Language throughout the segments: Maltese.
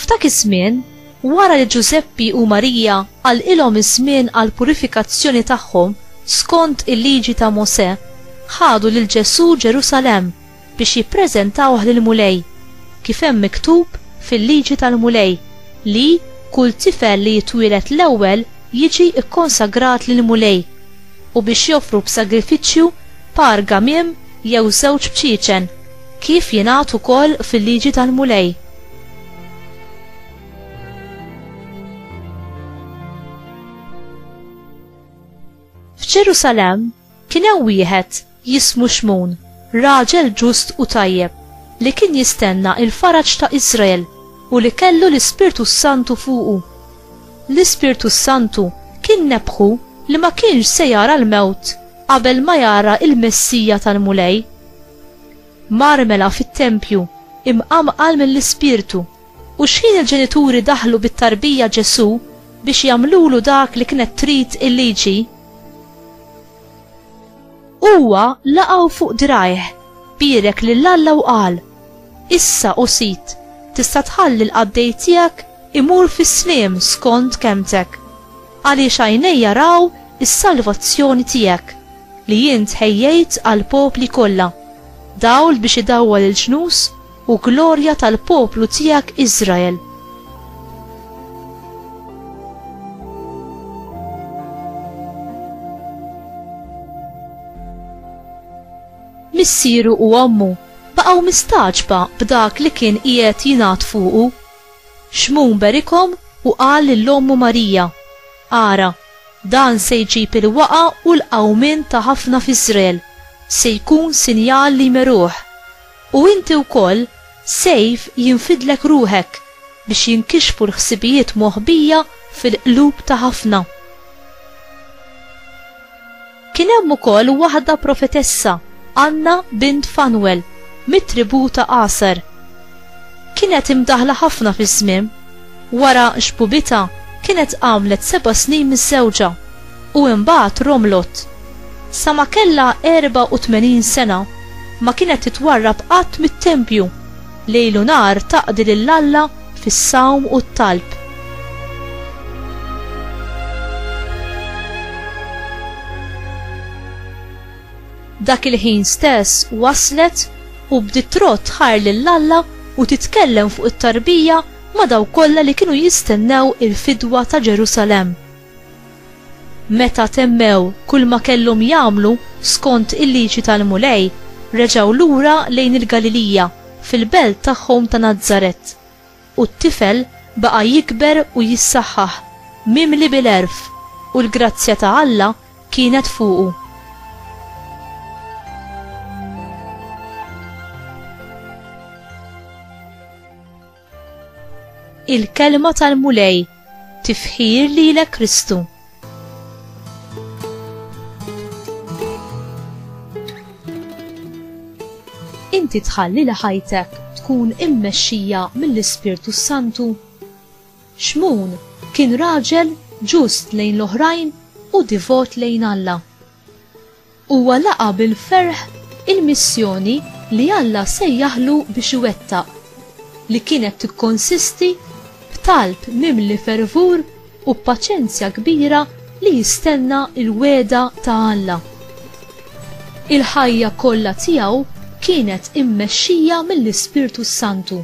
F'dak iż-żmien, wara li Ġużeppi u Marija qalqilhom iż-żmien għall-purifikazzjoni tagħhom skont il-Liġi ta' Mosè, ħadu lil Ġesù Ġerusalemm biex jippreżentawh lill-Mulej, kif hemm miktub fil-Liġi tal-Mulej li kull tifel li jitwieled l-ewwel jiġi kkonsagrat lill-Mulej, u biex joffru b'sagrifiċċju par gamiem jew żewġ bċiecen. Kif jingħad ukoll fil-Liġi tal-Mulej. F'Ġerusalemm kien hemm wieħed jismu Xmun, raġel ġust u tajjeb, li kien jistenna l-faraġ ta' Iżrael u li kellu l-Ispirtu s-Santu fuqu. L-Ispirtu s-Santu kien nebbħu li ma kienx se jara l-mewt qabel ma jara l-Messija tal-Mulej. Mar mela fit-tempju, imqanqal mill-Ispirtu, u xħin il-ġenituri daħlu bit-tarbija Ġesù biex jagħmlulu dak li kienet trid il-liġi, huwa laqgħu fuq dirgħajh, bierek lil Alla u qal, Issa, o Sid, tista' tħalli l-qaddej tiegħek imur fis-sliem skont kelmtek. Għaliex għajnejja raw is-salvazzjoni tiegħek, li int ħejjejt għall-popli kollha, dawl biex idawwal il-ġnus u glorja tal-poplu tiegħek Iżrael. Missieru u ommu baqgħu mistagħġba b'dak li kien qiegħed jingħad fuqu. Xmun berikhom u qal lil ommu Marija, Ara, dan se jġib il-waqgħa u l-qawmien ta' ħafna f'Iżrael, se jkun sinjal li jmeruh. U inti wkoll, sejf jinfidlek ruħek, biex jinkixfu l-ħsibijiet moħbija fil-qlub ta' ħafna. Kien hemm ukoll waħda profetessa, Anna bint Fanwel, mit-tribù ta' Aser. Kienet imdaħħla ħafna fiż-żmiem. Wara xbubitha, kienet għamlet seba' snin miżżewġa, u imbagħad romlot. Sa ma kellha 84 sena, ma kienet titwarrab qatt mit-tempju. Lejl u nhar taqdi lil Alla fis-sawm u t-talb. Dak il-ħin stess waslet u bdiet trodd tħajr lil Alla u titkellem fuq it-tarbija ma' dawk kollha li kienu jistennew il-fidwa ta' Ġerusalemm. Meta temmew kull ma kellhom jagħmlu skont il-liġi tal-Mulej, reġgħu lura lejn il-Galilija, fil-belt tagħhom ta' Nazaret. U t-tifel baqa' jikber u jissaħħaħ, mimli bil-għerf, u l-grazzja ta' Alla kienet fuqu. Il-kelma tal-Mulej tifħir lilek Kristu. Inti tħalli li ħajtek tkun immexxija mill-Ispirtu Santu. Xmun kien raġel ġust lejn l-oħrajn u divot lejn Alla. Huwa laqa' bil-ferħ il-missjoni li Alla sejjaħlu biex iwettaq, li kienet tikkonsisti b'talb mimli fervur u b'paċenzja kbira li jistenna l-wegħda ta' Alla. Il-ħajja kollha tiegħu kienet immexxija mill-Ispirtu s-Santu.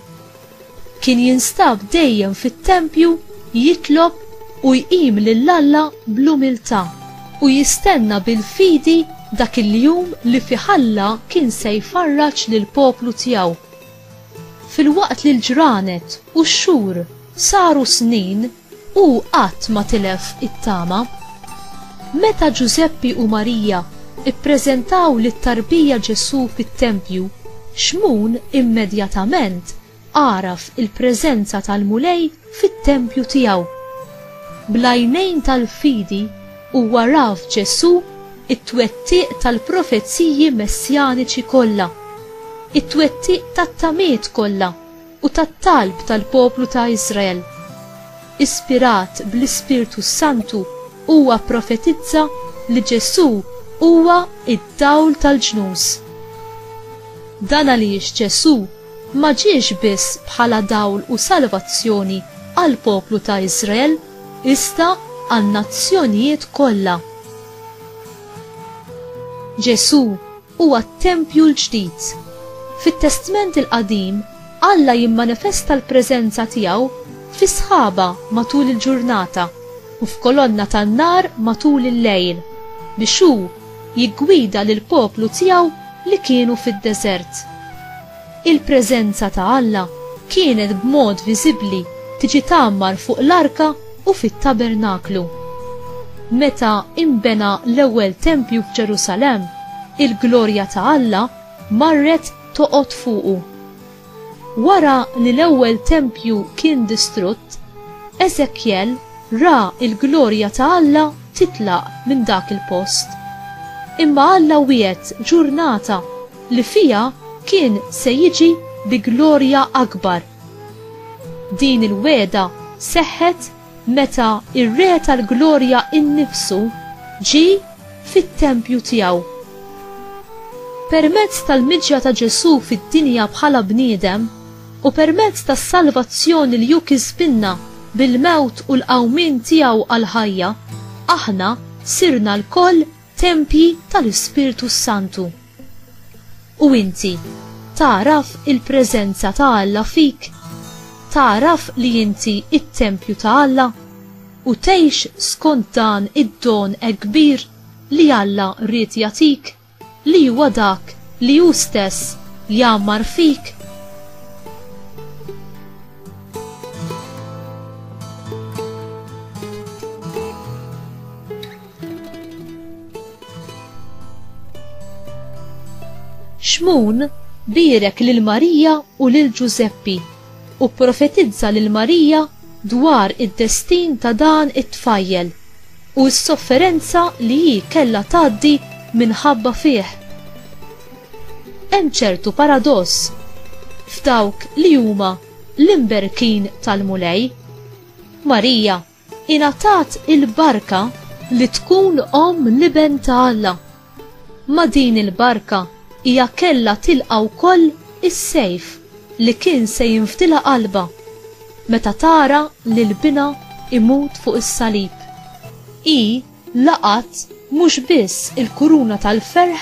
Kien jinstab dejjem fit-tempju jitlob u jqim lil Alla bl-umiltà u jistenna bil-fidi dak il-jum li fih Alla kien se jfarraġ lill-poplu tiegħu. Filwaqt li l-ġranet u x-xhur saru snin, Hu qatt ma tilef it-tama. Meta Ġużeppi u Marija ppreżentaw lit-tarbija Ġesù fit-tempju, Xmun immedjatament għaraf il-preżenza tal-Mulej fit-tempju tiegħu. Bl-għajnejn tal-fidi huwa ra f'Ġesù t-twettiq tal-profeziji messjaniċi kollha, it-twettiq tat-tamiet kollha. u tat-talb tal-poplu ta' Iżrael. Ispirat bl-Ispirtu s-Santu, huwa pprofetizza li Ġesù huwa d-dawl tal-ġnus. Dan għaliex Ġesù ma ġiex biss bħala dawl u salvazzjoni għall-poplu ta' Iżrael iżda għan-nazzjonijiet kollha. Ġesù huwa t-tempju l-ġdid. Fit-Testment il-Qadim, Alla jimmanifesta l-preżenza tiegħu fi sħaba matul il-ġurnata u f'kolonna tan-nar matul il-lejl, biex hu jiggwida lill-poplu tiegħu li kienu fid-deżert. Il-preżenza ta' Alla kienet b'mod viżibbli tiġi tgħammar fuq l-arka u fit-tabernaklu. Meta inbena l-ewwel tempju f'Ġerusalemm, il-glorja ta' Alla marret toqgħod fuqu. Wara li l-ewwel tempju kien distrutt, Eżekjel ra l-glorja ta' Alla titlaq minn dak il-post. Imma Alla wiegħed ġurnata li fiha kien se jiġi bi glorja akbar. Din il-wegħda seħħet meta r-Re tal-Glorja innifsu ġie fit-tempju tiegħu. Permezz tal-miġja ta' Ġesù fid-dinja bħala bniedem u permezz tas-salvazzjoni li hu kisbilna bil-mewt u l-qawmien tiegħu għall-ħajja, aħna sirna lkoll Tempji tal-Ispirtu s-Santu. U inti, tagħraf il-preżenza ta' Alla fik? Tagħraf li inti t-tempju ta' Alla? U tgħix skont dan id-don hekk kbir li Alla ried jagħtik, li huwa dak li hu stess jgħammar fik? Xmun bierek lil Marija u lil Ġużeppi u pprofetizza lil Marija dwar id-destin ta' dan it-tfajjel u s-sofferenza li hi kellha tgħaddi minħabba fih. Hemm ċertu paradoss f'dawk li huma l-imberkin tal-Mulej. Marija Ingħatat il-barka li tkun omm l-Iben ta' Alla. Ma' din il-barka hija kellha tilqa' wkoll is-sejf li kien se jinfdilha qalbha meta tara lil binha imut fuq is-salib. Hi laqgħet mhux biss il-kuruna tal-ferħ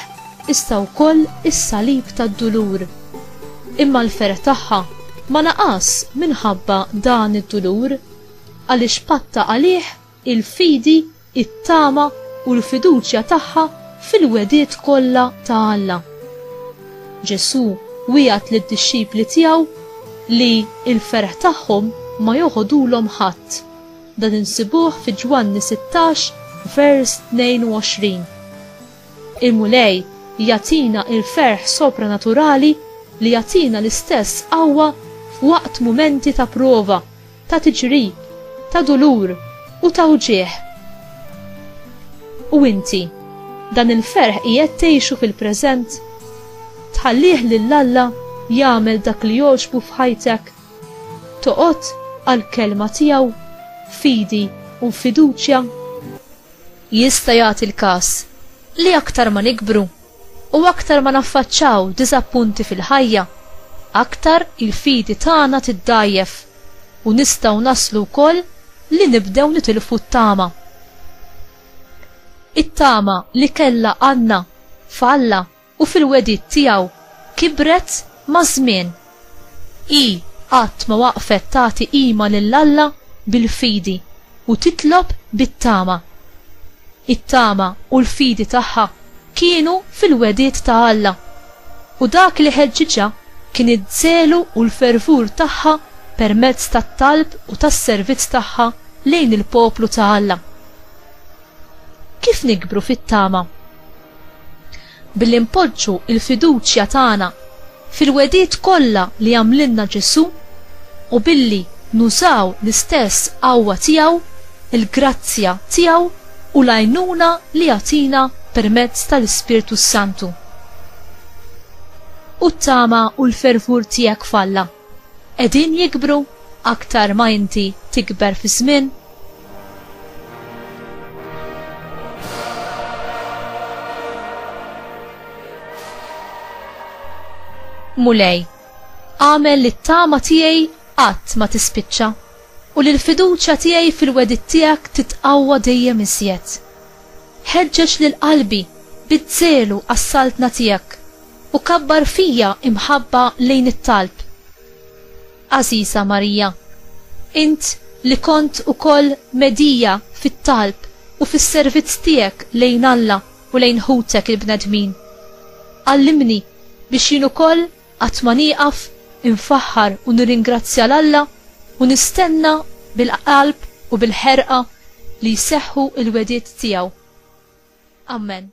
iżda wkoll is-salib tad-dulur. Imma l-ferħ tagħha ma naqas minħabba dan id-dulur. għaliex patta għalih il-fidi, it-tama u l-fiduċja tagħha fil-wegħdiet kollha ta' Alla. Ġesù wiegħed lid-dixxipli tiegħu li l-ferħ tagħhom ma joħodulhom ħadd. Dan insibuh fi Ġwanni 16 vers 22. Il-Mulej jagħtina l-ferħ sopranaturali li jagħtina l-istess qawwa f'waqt mumenti ta' prova ta' tiġrib, ta' dulur u ta' wġigħ. U inti, dan il-ferħ qiegħed tgħixu fil-preżent? Tħallih lil Alla jagħmel dak li jogħġbu f'ħajtek? Toqgħod għall-Kelma tiegħu f'fidi u f'fiduċja? Jista' jagħti l-każ li aktar ma nikbru, U aktar ma naffaċċaw diżappunti fil-ħajja, aktar il-fidi tagħna tiddgħajjef u nistgħu naslu wkoll li nibdew nitilfu t-tama. It-tama li kellha Anna f'Alla u fil-wegħdiet tiegħu kibret maż-żmien. Hi qatt ma waqfet tagħti qima lil Alla bil-fidi u titlob bit-tama. It-tama u l-fidi tagħha kienu fil-wegħdiet ta' Alla, u dak li ħeġġiġha kien iż-żelu u l-fervur tagħha permezz tat-talb u tas-servizz tagħha lejn il-poplu ta' Alla. Kif nikbru fit-tama? Billi npoġġu l-fiduċja tagħna fil-wegħdiet kollha li għamlilna Ġesù u billi nużaw l-istess qawwa tiegħu, il-grazzja tiegħu u l-għajnuna li jagħtina permezz tal-Ispirtu s-Santu. U t-tama u l-fervur tiegħek f'Alla. qegħdin jikbru aktar ma inti tikber fiż-żmien? Mulej, għamel li t-tama tiegħi qatt ma tispiċċa u li l-fiduċja tiegħi fil-wedid tiegħek titqawwa dejjem iżjed. Ħeġġeġ lil qalbi bid-żelu għas-saltna tiegħek U kabbar fija imħabba lejn it-talb. Għażiża Marija, int li kont ukoll medija fit-talb u fis-servizz tiegħek lejn Alla u lejn ħutek il-bnedmin, għallimni biex jien ukoll qatt ma nieqaf infaħħar u nirringrazzja 'l Alla u nistenna bil-qalb u bil-ħerqa li jseħħu l-wegħdiet tiegħu. Amen.